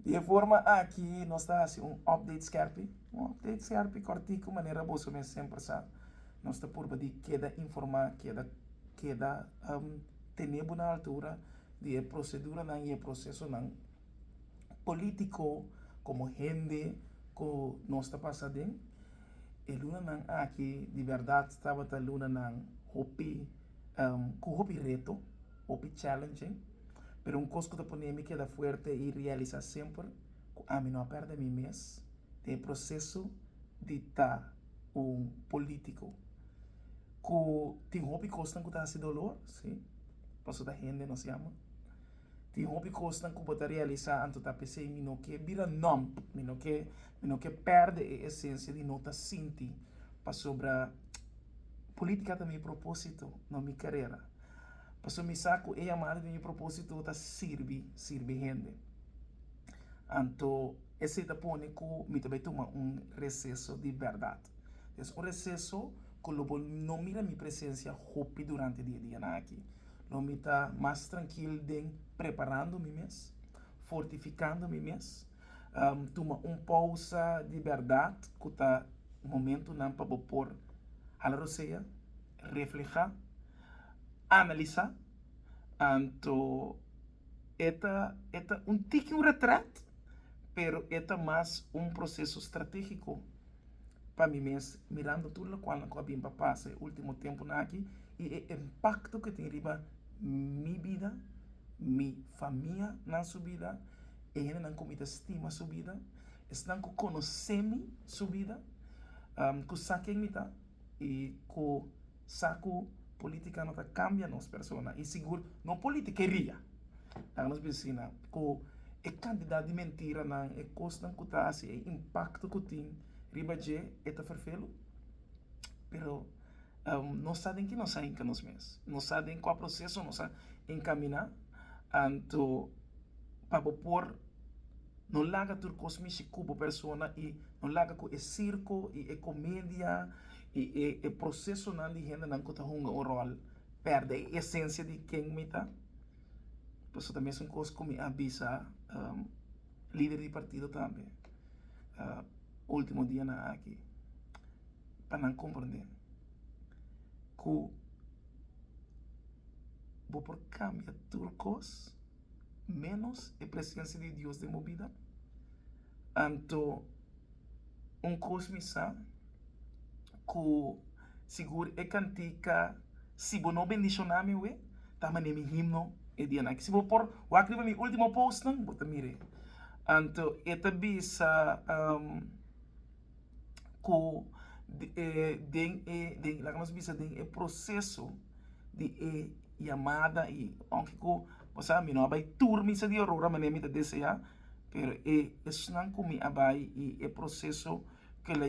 Di e forma aki nos ta hasi un update skerpi, un update skerpi kòrtiku manera boso mes semper sa. Nos ta purba di keda informá, keda keda tene bo na altura di e proseduranan i e prosesonan polítiko komo hende ku nos ta pasa aden. E lunanan aki di bèrdat tabata lunanan hopi ku hopi reto. hopi challenging, pero un cos cu ta ponemi keda fuerte y realisa semper cu ami no a perde mi mes den e proceso di ta un politico cu tin hopi cosnan cu ta haci dolor, si, paso ta hende nos yama, tin hopi cosnan cu bo ta realisa anto ta pesey mi no ke bira nump, mi no ke mi no ke perde e esencia di no ta sinti, pasobra politica ta mi proposito, no mi carera. Pasobra mi sa ku e yamada di mi propósito ta sirbi, sirbi hende. Anto esei ta pone ku mi ta bai tuma un reseso di bèrdat. Es un reseso ku lo bo no mira mi presensia hopi durante di e dianan akí. Lo mi ta mas trankil den preparando mi mes, fortifikando mi mes, tuma un pousa di bèrdat ku ta momentunan pa bo por hala rosea. reflehá, analisá, anto e ta e ta un tiki un retrèt, pero e ta mas un proseso stratégiko pa mi mes, mirando tur lokualnan ku a bin pa pasa e último tempunan aki i e impakto ku e tin riba mi bida, mi famianan su bida, e hendenan ku mi ta stima su bida, esnan ku konosé mi su bida, ku sa ken mi ta. i ku sa ku politika no ta kambia nos persona i sigur no politikeria laga nos bin sina ku e kantidat di mentiranan e kosnan ku ta hasi e impakto ku tin riba dje e ta ferfelu pero no sa den ke nos a hinka nos mes no sa den kua proseso nos a enkamina anto pa bo por. No laga tur kos mishi kubo persona i no laga ku e sirko i e komedia i e prosesonan di hendenan ku ta hunga un ròl pèrdè e esensia di ken mi ta. Pasobra ta mesun kos ku mi a bisa lider di partido tambe ultimo dianan aki pa nan komprondé ku bo por kambia tur kos. ménos e presensia di Dios den bo bida? Anto un kos mi sa ku sigur e kantika Si bo no bendishoná mi awe ta manera mi himno e dianan aki. Si bo por wak riba mi último póstnan bo ta mira e. Anto e ta bisa. cu den e, laga nos bisa den e proceso di e yamada y aunke cu bo sa mi no a bay tur misa di Aurora manera mi ta desea pero e esnan cu mi a bay y e proceso que la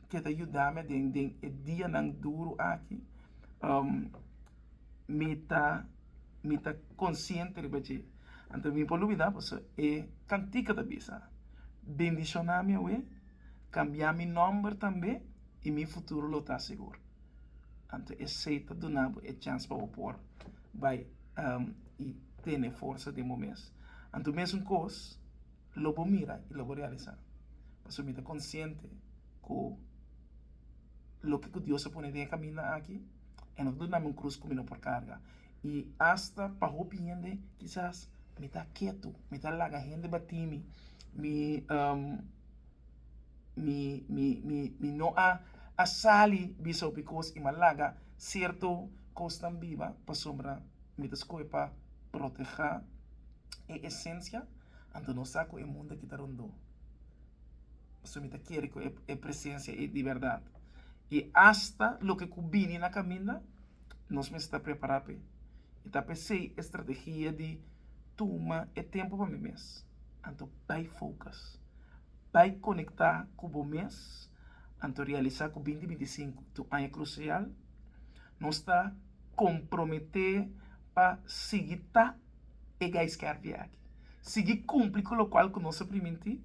que ta yudami aden den e dianan duro aki mi ta mi ta consciente riba dje anto mi por lo bida pasobra e cantica ta bisa bendicionami awe. Cambia mi nomber tambe y mi futuro lo ta segur. Anto esey ta duna bo e chans pa bo por bay y tene forsa den bo mes. Anto mesun cos lo bo mira y lo bo realisa. Pasobra mi ta consciente cu loke cu Dios a pone den e caminda aki. e no ta duna mi un krus ku mi no por karga. I asta pa hopi hende kisas mi ta ketu, mi ta laga hende batí mi, mi mi mi mi mi no a a sali bisa hopi kos i mi a laga serto kosnan biba pasobra mi ta skohe pa protehá e esensia anto nos sa ku e mundu a kita rondó. Pasobra mi ta kere ku e presensia ei di bèrdat. I asta loke ku bini na kaminda, nos mester prepará p'e. I ta p'esei e strategia di tuma e tempu pa mi mes. Anto bai fokus. Bai konektá ku bo mes. Anto realisá ku binti binti i sinku ta un aña krusial. Nos ta komprometé pa sigui ta. e gaiskervia aki, sigui kumpli ku lokual ku nos a primintí,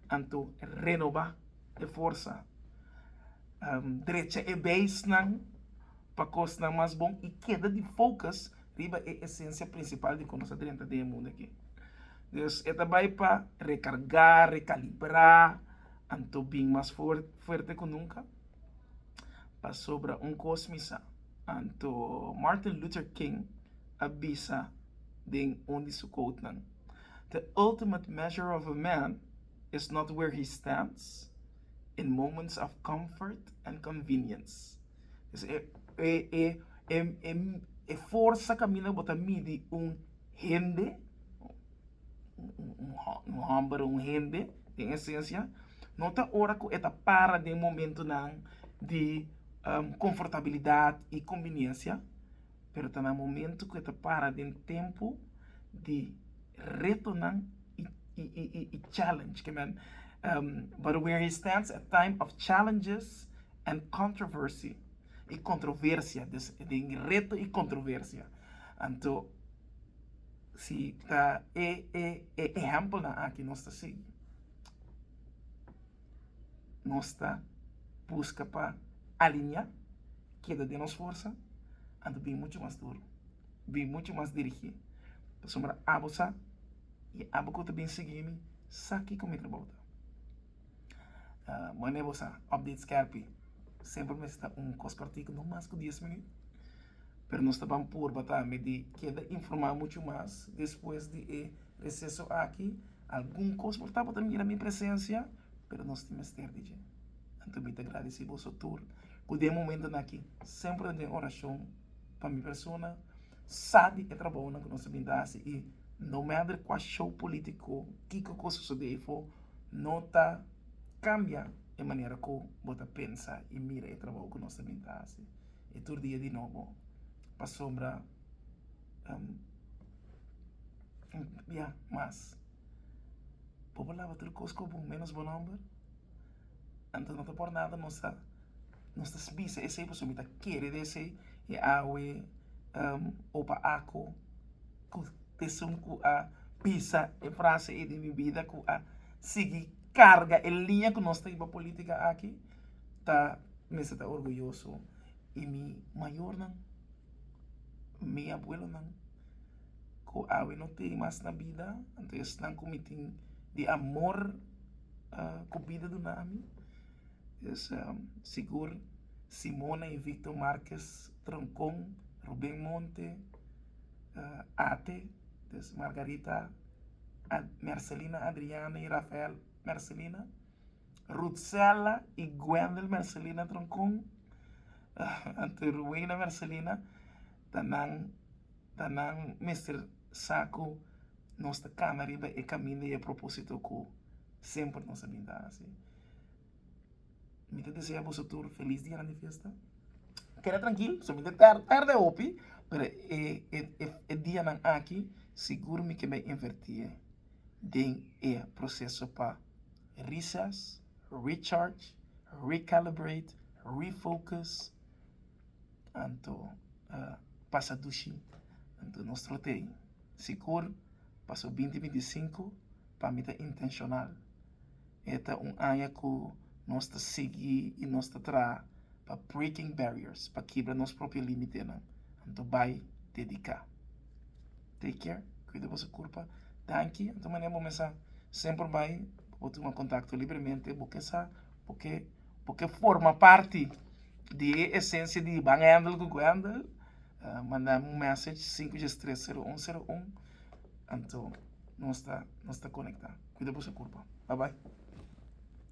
anto renobá e forsa, drecha e beisnan pa kosnan mas bon i keda di fokus riba e esensia prinsipal di kon nos a drenta den e mundu aki. Dus e ta bai pa rekargá, rekalibrá, anto bin mas fuerte ku nunka. Pasobra un kos mi sa. Anto Martin Luther King a bisa den un di su quotenan, The ultimate measure of a man is not where he stands in moments of comfort and convenience. Dus e forsa kaminda bo ta midi un hende, un homber, un hende den esencia, no ta ora ku e ta para den momentunan di. konfortabilidat i kombiniensia, pero ta na momentu ku e ta para den tempu di retonan i challenge. Ke men, but where he stands at time of challenges and controversy, i kontroversia, dus den reto i kontroversia. Anto si ta e ehèmpelnan aki nos ta sigui. nos ta buska pa aliñá keda den nos forsa, anto bin muchu mas duru, bin muchu mas dirigí, pasobra abo sa i abo ku ta bin sigui mi sa kiko mi trabou ta. Manera bo sa, update skèrpi semper mester ta un kos kortiku, no mas ku dies minüt, pero nos ta ban purba tambe di keda informá muchu mas despues di e reseso aki. Algun kos bo tabata mira mi presensia, pero nos tin mester di dje. Anto mi ta gradisí boso tur ku den momentunan akí semper ta den orashon pa mi persona, sa di e trabounan ku nos a bin ta hasi i no matter kua show polítiko, kiko kos sosodé ifo, no ta kambia e manera ku bo ta pensa i mira e trabou ku nos ta bin ta hasi. I tur dia di nobo, pasobra. ya mas bo por laba tur kos ku bon menos bo nomber anto no ta por nada nos ta nos ta bisa esei pasobra mi ta kere di esei e awe opa ako ku esun ku a bisa e frase ei di mi bida ku a sigui karga e liña ku nos ta yuma politika aki ta mester ta orguyoso i mi mayornan. Mi abuelonan ku awe no tin mas na bida, anto esnan ku mi tin di amor ku bida duna ami. Es sigur Simona y Victor Marquez Troncon, Ruben Monte, Ate, des Margarita, Mercelina Adriana y Rafael Mercelina. Rutzella y Gwendel Mercelina Troncon anto Ruweina Mercelina ta nan ta nan mester sa cu nos ta cana riba e caminda y e proposito cu semper nos a bin ta haci. Mi ta desea boso tur feliz dianan di fiesta. Keda trankil so mi ta tar tarde hopi pero e e e dianan aki sigur mi ke bai invertie den e proceso pa. Recess, Recharge, Recalibrate, Refocus, anto pasa dushi anto nos trotei sigur pa su binti binti i sinku pa mi ta intenshonal e ta un aña ku nos ta sigui i nos ta traha pa breaking barriers pa kibra nos propio limitenan anto bai dediká. take care cuida boso curpa tanki anto manera bo mester semper bay pa bo tuma contacto libremente bo ke sa bo ke bo ke forma parti di e esencia di ban hendel ku guendel manda mi un message sinku dies tres sero un sero un anto nos ta nos ta conecta cuida boso curpa babay.